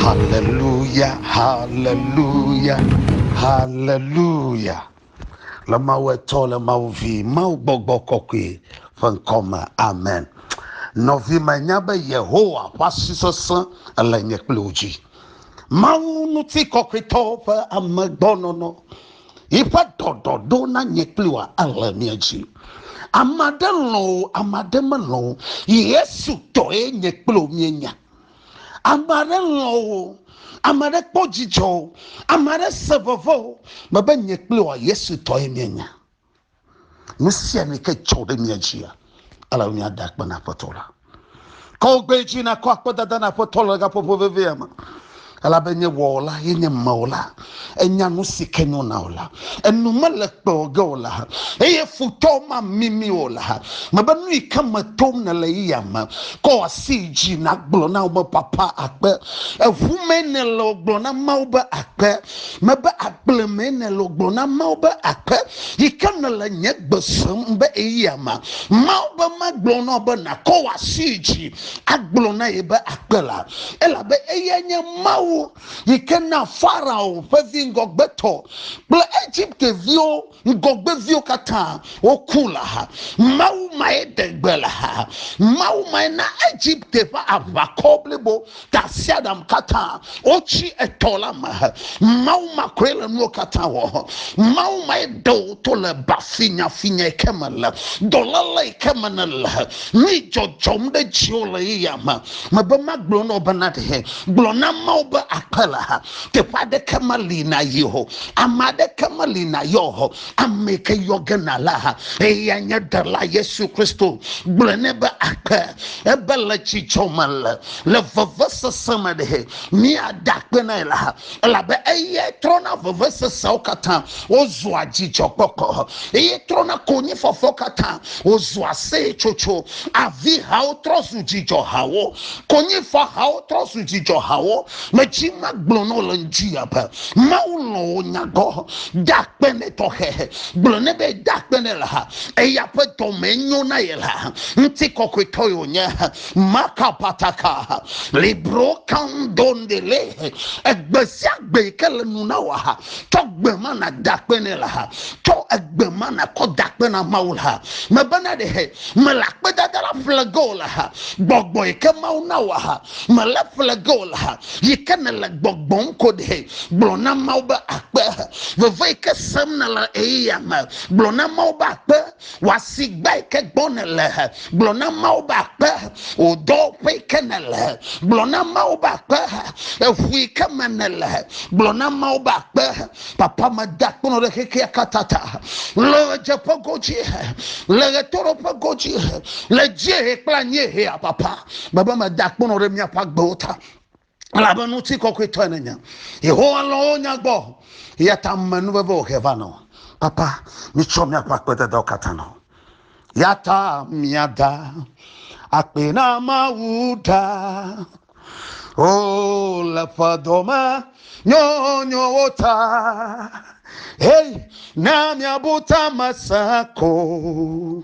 Haleluya, haleluya, haleluya. Le Mawu Etɔ, le Mawu Vi, Mawu Gbɔgbɔ Kɔkɔe ƒe ŋkɔ me. Amen. Nɔvi menya be Yehowa ƒe asi sesẽ ele nye kple wò dzi. Mawu ŋuti kɔkɔetɔwo ƒe amegbɔnɔnɔ Yiƒe ɖɔɖɔɖo na nye kpli wòa ele mia dzi. Ame aɖe lɔ̃ o, ame aɖe melɔ̃ o. Yesu tɔe nye kple wò míenya. Ame aɖe lɔ̃ o, ame aɖe kpɔ dzidzɔ o, ame aɖe se veve o, mebe nye kple wòa Yesu tɔe míenya. Nu sia nu ke dzɔ ɖe mia dzia, ele be miada akpe na Aƒetɔ la. Ke wogbe dzi nakɔ akpedada na Aƒetɔ le gaƒoƒo vevia me. Elabe nye wɔla ye nye mewɔla. Enya nu si ke nyo na wò la. Enu mele kpe o ge o la. Eye futɔ mamimi o la. Mebe nu yi ke me tom nèle yi ya me. Kɔ asi yi dzi nagblɔ na wo be papa akpe. Eŋu mee nèle gblɔ na Mawu be akpe. Mebe, Agble mee nèle o, gblɔ na Mawu be, Aƒe yi ke nèle nye gbe sem be eyia ma. Mawu be magblɔ na wò be nàkɔ wò asi yi dzi agblɔ na ye be akpe la, elabe eyae nye Mawu yi ke na Farao ƒe vi ŋgɔgbetɔ kple Egipte viwo Ŋgɔgbeviwo katã woku le axa. Mawu mae ɖe gbe le axa. Mawu mae na Egipte ƒe aʋakɔ blibo, tasiaɖam katã wotsi etɔ la me. Mawu ma koe le nuwo katã wɔ. Mawu mae ɖe wò to le ba finyafinya yi ke me le, dɔléle yi ke me nèle. Nu yi dzɔdzɔm ɖe dziwò le yeyea me. Mebe magblɔ na wò bena ɖe gblɔ na Mawu be akpe le axa. Teƒe aɖeke meli nàyi o. Ame aɖeke meli nàyɔ o. Ame yi ke yɔ ge nàla ha. Eyae nye Ɖela Yesu Kristo. Gblɔe nɛ be akpe. Ebe le dzidzɔ me le, le vevesese me ɖe míada akpe na ye la, elabe eyae trɔna veveseseawo katã wozua dzidzɔkpɔkpɔ, eye trɔna konyifafawo katã wozua aseyetsotso. Avihawo trɔ zu dzidzɔhawo. Konyifahawo trɔ zu dzidzɔhawo. Medzi magblɔ na wò le ŋdi ya be Mawu lɔ wò nyagɔ. Da akpe ne tɔxɛ. Gblɔ ne be da akpe ne la. Eya ƒe dɔme nyo na ye la. Ŋti kɔkɔe tɔ yo nye. Maka pataka. Libro kandonde le. Egbe sia gbe yi ke le nu na wò ha. Tɔ gbe ma na da akpe ne la. Tɔ egbe ma na kɔ da akpe na Mawu la. Mebena ɖe he. Mele akpedada la ƒle ge o la. Gbɔgbɔ yi ke Mawu na wò ha. Mele ƒle ge o la, yi ke nèle gbɔgbɔm ko ɖe. Gblɔ na Mawu be akpe. Veve yi ke sem nèle le ɣeyiɣia me, gblɔ na Mawu be akpe. Wò asigba yi ke gbɔ nèle, gblɔ na Mawu be akpe. Wò dɔwɔƒe yi ke nèle, gblɔ na Mawu be akpe. Eŋu yi ke me nèle, gblɔ na Mawu be akpe. Papa, meda akpe nɔ ɖe xexea katã ta. Le ɣedzeƒe godzi, le ɣetoɖoƒe godzi, le dziehe kple anyiehea, Papa. Mebe meda akpono ɖe miaƒe agbewo ta, elabe ŋuti kɔkɔetɔe nenye. Yehowa lɔ̃ wo nya gbɔ, eya ta menu veve o he va na wo. Papa, mitsɔ miaƒe akpededawo katã na wo. Ya ta miada akpe na Mawu ɖa. O, le ƒe dome nyɔnyɔwo ta. Hei, ne miabu ta me se ko.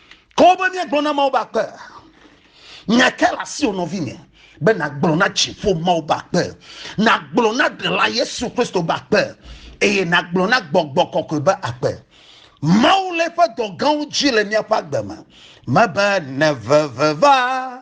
Ke wo be míagblɔ na Mawu be akpe. Nya kae le asiwò nɔvinye be nàgblɔ na dziƒo Mawu be akpe, nàgblɔ na Ɖela Yesu Kristo be akpe, eye nàgblɔ na Gbɔgbɔ Kɔkɔe be akpe. Mawu le eƒe dɔ gãwo dzi le míaƒe agbe me. Mebe nèveve va.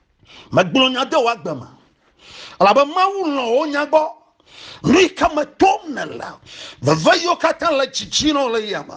megblɔ nya de wòagbe me elabe mawu lɔ̃ wo nya gbɔ nu yi ke me tom nèle veve yiwo katã le dzidzi nɔ le yia me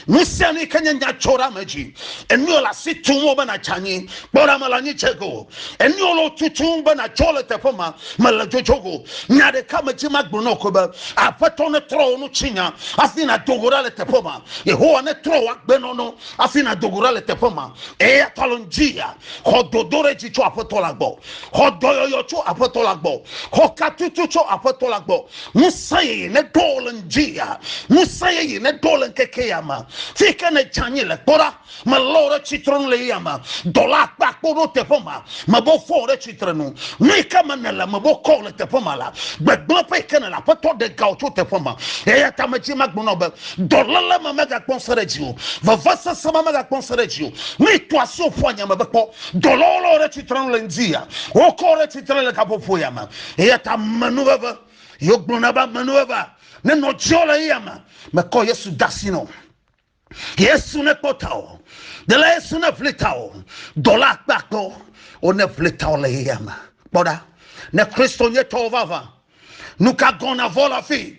nu sia nu yi ke nye nyadzɔɖame dzi enuwo le asi tum wo be nàdze anyi kpɔɖame le anyi dze go enuwo le tutum be nàdzɔ le teƒe ma mele dzodzo go nya ɖeka medzi magblɔ nɔ koe be aƒetɔ netrɔ wo nu tsinya hafi nàdo go ɖa le teƒe ma yehowa netrɔ wo agbenɔnɔ afi na dogo ɖa le teƒe ma eya ta lɔn dzi ya xɔ dodo ɖe dzi tso aƒetɔ la gbɔ xɔ dɔyɔyɔ tso aƒetɔ la gbɔ xɔ katutu tso aƒetɔ la gbɔ ŋusẽ yeye ne ɖo le dzi ya ŋusẽ yeye ne ɖo le ŋkeke ya ma fi ke ne dza nyi le kpɔ ɖa me lɔ ɖe tsitre nu le ya ma dɔla akpa akpɔ ɖo teƒe ma me bo fɔ ɖe tsitre nu nu yi ke me ne le me bo kɔ le teƒe ma la gbegblẽ ƒe yi ke ne le aƒetɔ ɖe gawo tso teƒe ma eya ta me dzi ma gbɔnɔ be Dɔléle ma megakpɔ ŋusẽ ɖe dziwò. Vevesese ma megakpɔ ŋusẽ ɖe dziwò. Ne ètɔ asi wò ƒua nya me be kpɔ, dɔlawo lé wò ɖe tsitre nu le ŋdi ya. Wokɔ wò ɖe tsitre le gaƒoƒo ya me. Eya ta me nu veve. Ye wogblɔna be ame nu vevea nenɔ dziwò le eya me. Mekɔ Yesu de asi nɔ. Yesu ne kpɔ tawò. Dela Yesu ne ʋli tawò. Dɔla akpe akpe wo. Wo ne ʋli tawò le eya me. Kpɔ ɖa. Ne Kristo nye tɔwò vavã. Nuka gɔ̃ na vɔ le afii?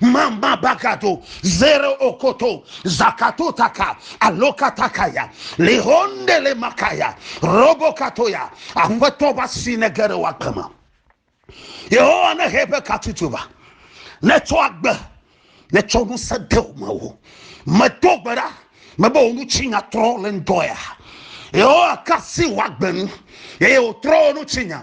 Mama bagato, zero okoto, zakato taka, aloka takaya, lihonde le makaya, robo katoya, aƒetɔ va si ne ge ɖe woagbe me. Yehowa ne he eƒe katutu va, ne tsɔ agbe, ne tsɔ ŋusẽ de wo me wo. Medo gbe ɖa, mebe wo nu tsi nya trɔ le ŋdɔ ya. Yehowa kasi woagbe nu, eye wòtrɔ wo nu tsi nya.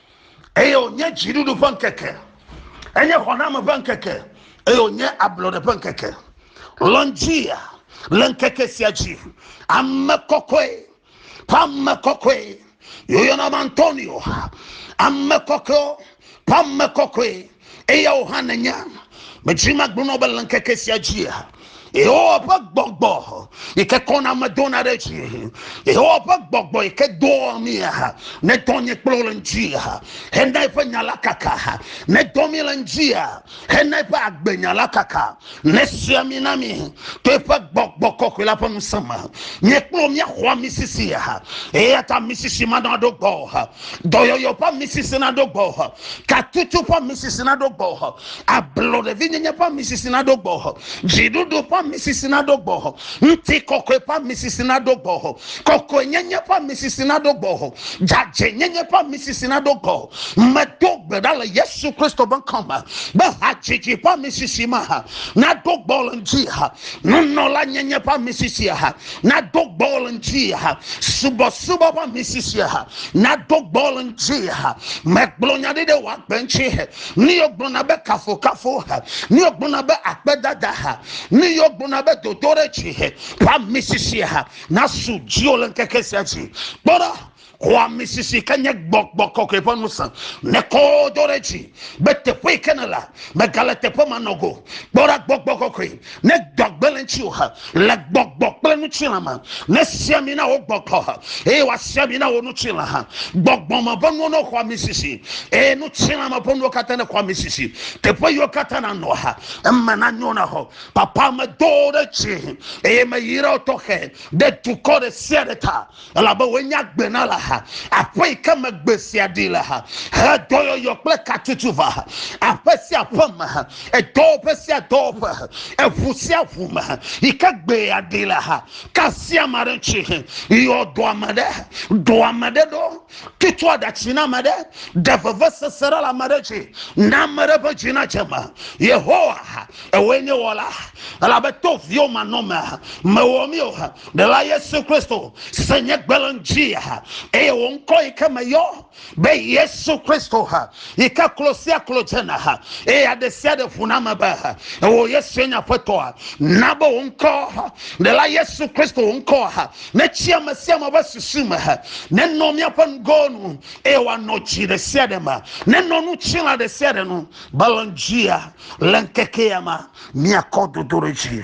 eye wònye dziɖuɖu ƒe ŋkeke enye xɔname ƒe ŋkeke eye wònye ablɔɖe ƒe ŋkeke lɔndzia le ŋkeke sia dzi ame kɔkɔe ƒe ame kɔkɔe yɔyɔna be antonio ame kɔkɔe ƒe ame kɔkɔe Eyawo hã nènya. Medzi magblɔ na be le ŋkeke sia dzia, Yehowa ƒe gbɔgbɔ yi ke kɔna ame dona ɖe dzi, Yehowa ƒe gbɔgbɔ yi ke dɔa mí ha, nedɔ nye kple wò le ŋdi ha, hena eƒe nya la kaka ha, nedɔ mí le ŋdi ha, hena eƒe agbenya la kaka. Nesua mi na mi to eƒe gbɔgbɔ kɔkɔe la ƒe ŋusẽ me. Míekpɔ míaxɔ misisi ha. Eya ta misisi ma naɖo gbɔ ha. Dɔyɔyɔ ƒe misisi naɖo gbɔ ha. Katutu ƒe misisi naɖo gbɔ ha. Ablɔɖevinyenye ƒe misisi naɖo gbɔ ha. Dziɖuɖu ƒe misisi naɖo gbɔ ha. Ŋuti kɔkɔe ƒe misisi naɖo gbɔ ha. Kɔkɔenyenye ƒe misisi naɖo gbɔ ha. Dzadzɛnyenye ƒe misisi naɖo gbɔ ha. Medo gbe ɖa le Yesu Kristo ƒe ŋkɔ me be hadzidzi ƒe amisisi ma ha nado gbɔ le ŋdi ha, nunɔla nyenye ƒe amisisi ha nado gbɔ le ŋdi ha, subɔsubɔ ƒe amisisi ha nado gbɔ le ŋdi ha. Megblɔ nya ɖi ɖe wò agbe ŋuti he, nu yiwo gblɔna be kafukafu ha, nu yiwo gblɔna be akpedada ha, nu yiwo gblɔna be dodoɖedzi he ƒe amisisi ha nasu dziwò le ŋkeke sia dzi. Kpɔ ɖa! Xɔamisisi ke nye gbɔgbɔ kɔkɔe ƒe ŋusẽ. Nekɔ do ɖe dzi be teƒe yi ke nèle megale teƒe ma nɔ go. Kpɔ ɖa gbɔgbɔ kɔkɔe ne gbɔgbe le ŋutiwò he le gbɔgbɔ kple ŋutilã me. Ne sia mi na wò gbɔgbɔ he eye wòasia mi na wò ŋutilã he. Gbɔgbɔ me ƒe nuwo ne xɔ amisisi eye ŋutilã me ƒe nuwo katã ne xɔ amisisi. Teƒe yiwo katã nanɔ he eme nanyo na wò. Papa medo ɖe dzi eye meyra wò tɔxɛ ɖe dukɔ ɖe sia ɖe ta. elabe wòenye agbe na le ha aƒe yi ke me gbe sia ɖi le ha he dɔyɔyɔ kple katutu va ha aƒe sia aƒe me ha edɔwɔƒe sia dɔwɔƒe ha eʋu sia ʋu me ha yi ke gbe ya ɖi le ha kasia ame aɖe ŋuti he yɔ dɔ ame ɖe dɔ ame ɖe ɖo tutu aɖatsi na ame ɖe ɖe vevesese ɖe le ame ɖe dzi na ame ɖe ƒe dzi na dze me yehowa ha ewoe nye wɔla elabe to viwo manɔme ha mewɔ mi o ha Ɖela Yesu Kristo si nye gbe le ŋdi ha eye wò ŋkɔ yi ke me yɔ be Yesu Kristo ha yi ke klo sia klo dzena ha eye aɖe sia ɖe ʋuna me be wò Yesu enye aƒetɔa. Na be wò ŋkɔ ha ɖela Yesu Kristo wò ŋkɔ ha netsi ame sia ame ƒe susu me ha nenɔ míaƒe nugowo nu eye wòanɔ dzi ɖe sia ɖe me nenɔ nu tsila ɖe sia ɖe nu be le ŋdi ha le ŋkekea me míakɔ dodo ɖe dzi.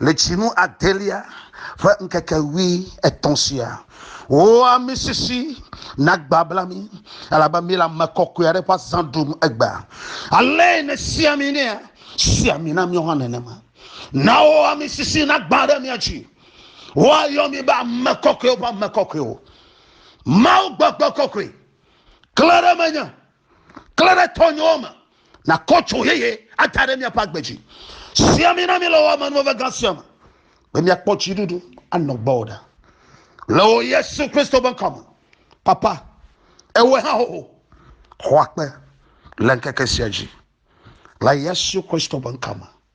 Le tsinu adelia ƒe ŋkeke ʋui etɔ̃ sia, wò amisisi nagbabla mí, elabe míele ame kɔkɔe aɖe ƒe azã ɖum egbea. Alee nèsia mí nɛa? Sia mí na míawo hã nenema. Na wò amisisi nagbã ɖe mía dzi. Woayɔ mí be ame kɔkɔewo ƒe ame kɔkɔewo. Mawu gbegbe kɔkɔe, klẽ ɖe menye Klẽ ɖe tɔnyewo me nakɔ dzo yeye ada ɖe míaƒe agbe dzi. Si ami na mi le wò amenuveve gã sia me be míakpɔ dziɖuɖu anɔ gbɔwò ɖa. Le wò Yesu Kristo ƒe ŋkɔ me, Papa, ewɔe hã xoxo, xɔ akpe le ŋkeke sia dzi. Le Yesu Kristo ƒe ŋkɔ me.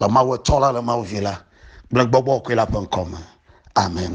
le Mawu Etɔ̃ la, le Mawu Vi la kple Gbɔgbɔ Kɔkɔe la ƒe ŋkɔ me. Amen.